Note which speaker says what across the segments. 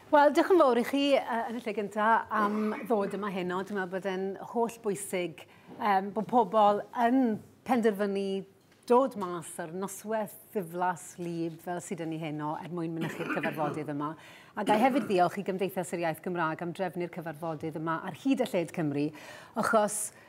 Speaker 1: Wel, diolch yn fawr i chi uh, yn y lle gynta am ddod yma heno. Dwi'n meddwl bod e'n holl bwysig um, bod pobl yn penderfynu dod mas ar noswaith ddiflas lib fel sydd yn ei heno er mwyn mynychu'r cyfarfodydd yma. A gael hefyd ddiolch i Gymdeithas yr Iaith Gymraeg am drefnu'r cyfarfodydd yma ar hyd a lled Cymru, achos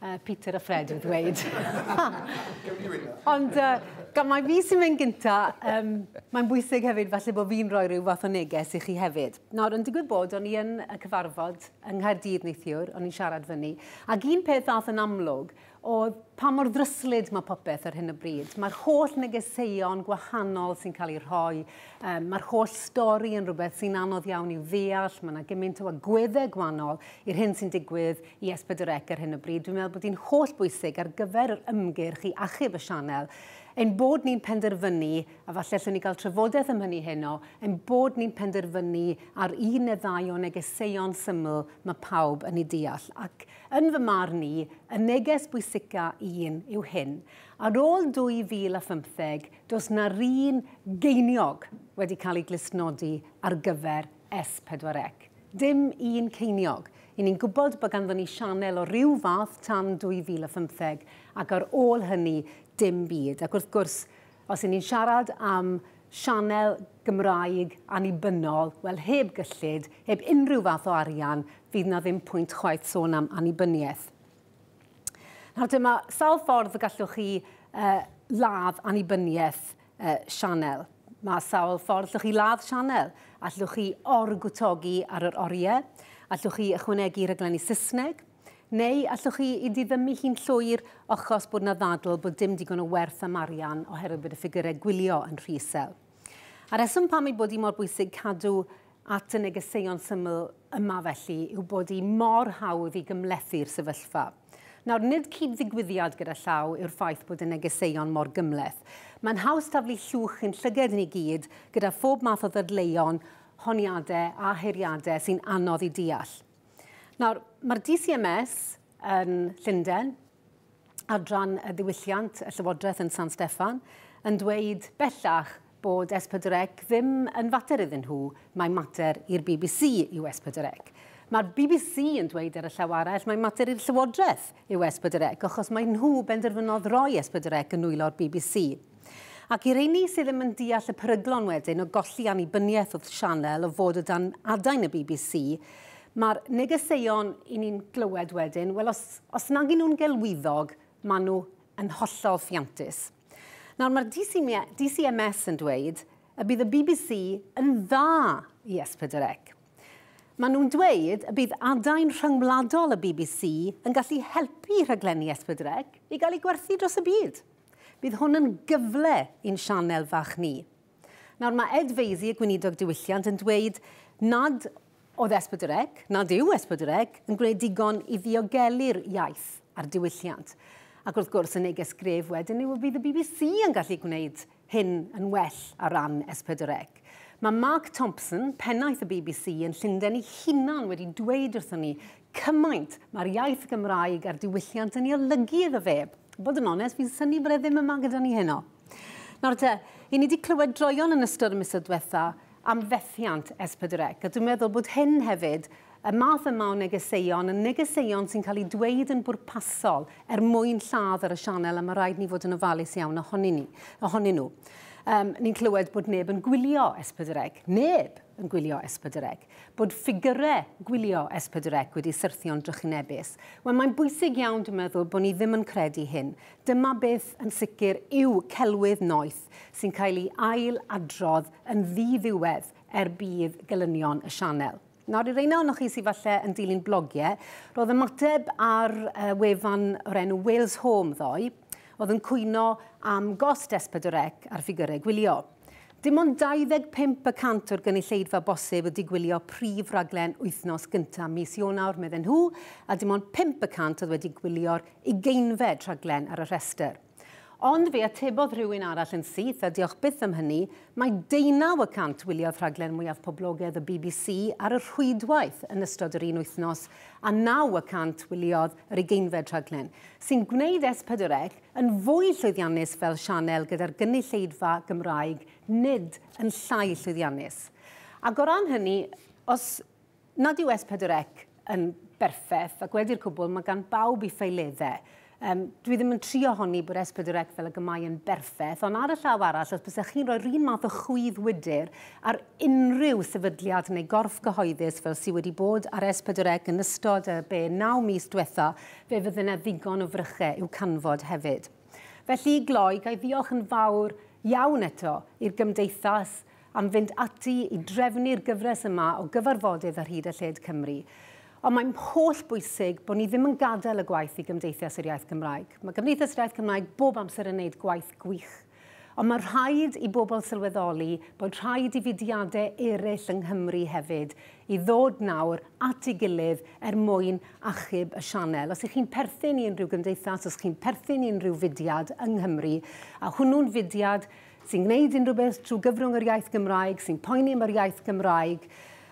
Speaker 1: Uh, Peter a Fred yn dweud. Ond uh, gan mae fi sy'n mynd gynta, um, mae'n bwysig hefyd falle bod fi'n rhoi rhyw fath o neges i chi hefyd. Nawr, yn digwydd bod, o'n i yn y cyfarfod yng Nghaerdydd neithiwr, o'n i'n siarad fyny, ac un peth ddath yn amlwg oedd pa mor ddryslyd mae popeth ar hyn o bryd. Mae'r holl negeseuon gwahanol sy'n cael ei rhoi, um, mae'r holl stori yn rhywbeth sy'n anodd iawn i'w ddeall, mae yna gymaint o agweddau gwahanol i'r hyn sy'n digwydd Yes, pedwar ec ar hyn o bryd. Dwi'n meddwl bod hi'n holl bwysig ar gyfer yr ymgyrch i achub y sianel, ein bod ni'n penderfynu, a falle allwn ni gael trafodaeth am hynny heno, ein bod ni'n penderfynu ar un neu ddau o negeseuon syml mae pawb yn ei deall. Ac yn fy marn i, y neges bwysica un yw hyn. Ar ôl 2015, does na'r un geiniog wedi cael ei glustnodi ar gyfer S4C. Dim un ceiniog. I ni'n gwybod bod ganddon ni sianel o ryw fath tan 2015, ac ar ôl hynny, dim byd. Ac wrth gwrs, os i ni'n siarad am sianel Gymraeg annibynnol, wel heb gyllid, heb unrhyw fath o arian, fydd 'na ddim pwynt chwaith sôn am annibyniaeth. Nawr te, mae sawl ffordd y gallwch chi uh, ladd annibyniaeth y sianel. Mae sawl ffordd llwch chi ladd sianel. Allwch chi orgwtogi ar yr oriau, allwch chi ychwanegu rhaglenni Saesneg, neu allwch chi i diddymu hi'n llwyr ochos bod yna ddadl bod dim digon o werth am arian oherwydd bod y ffigurau gwylio yn rhy isel. A reswm pam ei bod hi mor bwysig cadw at y negeseuon syml yma felly yw bod hi mor hawdd i gymlethu'r sefyllfa. Nawr, nid cyd-ddigwyddiad gyda llaw yw'r ffaith bod y negeseuon mor gymhleth. Mae'n haws taflu llwch i'n llyged ni gyd gyda phob math o ddadleuon, honiadau a heiriadau sy'n anodd i deall. Nawr, mae'r DCMS yn Llundain, adran y ddiwylliant y Llywodraeth yn San Steffan, yn dweud bellach Bod S4C ddim yn fater iddyn nhw, mae'n mater i'r bbc yw S4C. Mae'r bbc yn dweud ar y llaw arall mae'n mater i'r Llywodraeth yw S4C achos mae nhw benderfynodd roi S4C yn nwylo'r bbc. Ac i'r rheiny sydd ddim yn deall y peryglon wedyn o golli annibyniaeth wrth sianel o fod o dan adain y bbc, mae'r negeseuon i ni'n glywed wedyn, wel os, os nag y'n nhw'n gelwyddog, maen nhw yn hollol ffiantus. Nawr, mae'r DCMS yn dweud y bydd y bbc yn dda i S4C. Maen nhw'n dweud y bydd adain rhyngwladol y bbc yn gallu helpu rhaglenni S4C i gael eu gwerthu dros y byd. Bydd hwn yn gyfle i'n sianel fach ni. Nawr, mae Ed Vaizey, y gweinidog diwylliant, yn dweud nad oedd Esbydrec, nad yw Esbydrec, yn gwneud digon i ddiogelu'r iaith a'r diwylliant. Ac wrth gwrs, y neges gref wedyn yw y bydd y bbc yn gallu gwneud hyn yn well ar ran Esbydrec. Mae Mark Thompson, pennaeth y bbc yn Llundain ei hunan wedi dweud wrthon ni cymaint mae'r iaith Gymraeg a'r diwylliant yn ei olygu iddo fe. Bod yn onest, fi'n synnu bod e ddim yma gyda ni heno. Nawr te, i ni wedi clywed droeon yn ystod y misoedd diwetha am fethiant S4C, a dwi'n meddwl bod hyn hefyd, y math yma o negeseuon, y negeseuon sy'n cael eu dweud yn bwrpasol er mwyn lladd ar y sianel, a mae rhaid ni fod yn ofalus iawn ohonyn, ni, ohonyn nhw. Um, ni'n clywed bod neb yn gwylio S4C, neb yn gwylio S4C, bod ffigurau gwylio S4C wedi syrthio'n drychinebus. Wel, mae'n bwysig iawn, dwi'n meddwl, bod ni ddim yn credu hyn. Dyma beth yn sicr yw celwydd noeth sy'n cael ei ail adrodd yn ddi-ddiwedd er budd gelynion y sianel. Nawr, i reina ohonoch chi sydd falle yn dilyn blogiau, roedd ymateb ar uh, wefan o'r enw Wales Home ddoe, oedd yn cwyno am gost S4C ar ffigurau gwylio. Dim ond 25 y cant o'r gynulleidfa bosib ydy gwylio prif raglen wythnos gyntaf mis Ionawr, medden nhw, a dim ond pump y cant oedd wedi gwylio'r ugeinfed rhaglen ar y rhestr. Ond fe atebodd rhywun arall yn syth, a diolch byth am hynny, mai deunaw y cant wyliodd rhaglen mwyaf poblogedd y bbc ar y rhwydwaith yn ystod yr un wythnos, a naw y cant wyliodd yr ugeinfed rhaglen, sy'n gwneud S4C Yn fwy llwyddiannus fel sianel gyda'r gynulleidfa Gymraeg, nid yn llai llwyddiannus. Ac o ran hynny, os nad yw S4C yn berffeth, ac wedi'r cwbl, mae gan bawb ei ffeileddau. Um, dwi ddim yn trio honni bod S4C fel y gymau yn berffeth, ond ar y llaw arall, os bysach chi'n rhoi'r un math o chwydd wydr ar unrhyw sefydliad neu gorff gyhoeddus fel sydd wedi bod ar S4C yn ystod y be 9 mis diwetha, Fe fydde 'na ddigon o fryche i'w canfod hefyd. Felly, i gloi, ga i ddiolch yn fawr iawn eto i'r Gymdeithas am fynd ati i drefnu'r gyfres yma o gyfarfodydd ar hyd a lled Cymru. Ond mae'n holl bwysig bod ni ddim yn gadael y gwaith i Gymdeithas yr Iaith Gymraeg. Mae Cymdeithas yr Iaith Gymraeg bob amser yn wneud gwaith gwych. Ond mae rhaid i bobl sylweddoli bod rhaid i fudiadau eraill yng Nghymru hefyd i ddod nawr at ei gilydd er mwyn achub y sianel. Os ych chi'n perthyn i unrhyw gymdeithas, os chi'n perthyn i unrhyw fudiad yng Nghymru, a hwnnw'n fudiad sy'n gwneud unrhyw beth trwy gyfrwng yr iaith Gymraeg, sy'n poeni am yr iaith Gymraeg,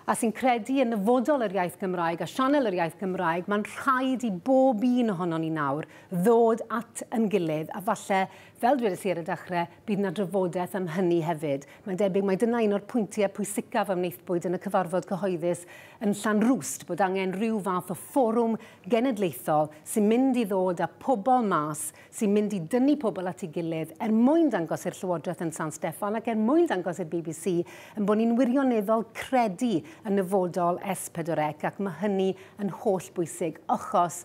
Speaker 1: a sy'n credu yn nyfodol yr iaith Gymraeg a sianel yr iaith Gymraeg, mae'n rhaid i bob un ohonon ni nawr ddod at yn gilydd a falle Fel dwedais i ar y dechrau, bydd yna drafodaeth am hynny hefyd. Mae'n debyg mai dyna un o'r pwyntiau pwysicaf a wnaethpwyd yn y cyfarfod cyhoeddus yn Llanrwst, bod angen rhyw fath o fforwm genedlaethol sy'n mynd i ddod â pobl mas, sy'n mynd i dynnu pobl at ei gilydd er mwyn dangos i'r Llywodraeth yn San Steffan ac er mwyn dangos i'r bbc ein bod ni'n wirioneddol credu yn nyfodol S4C ac mae hynny yn hollbwysig achos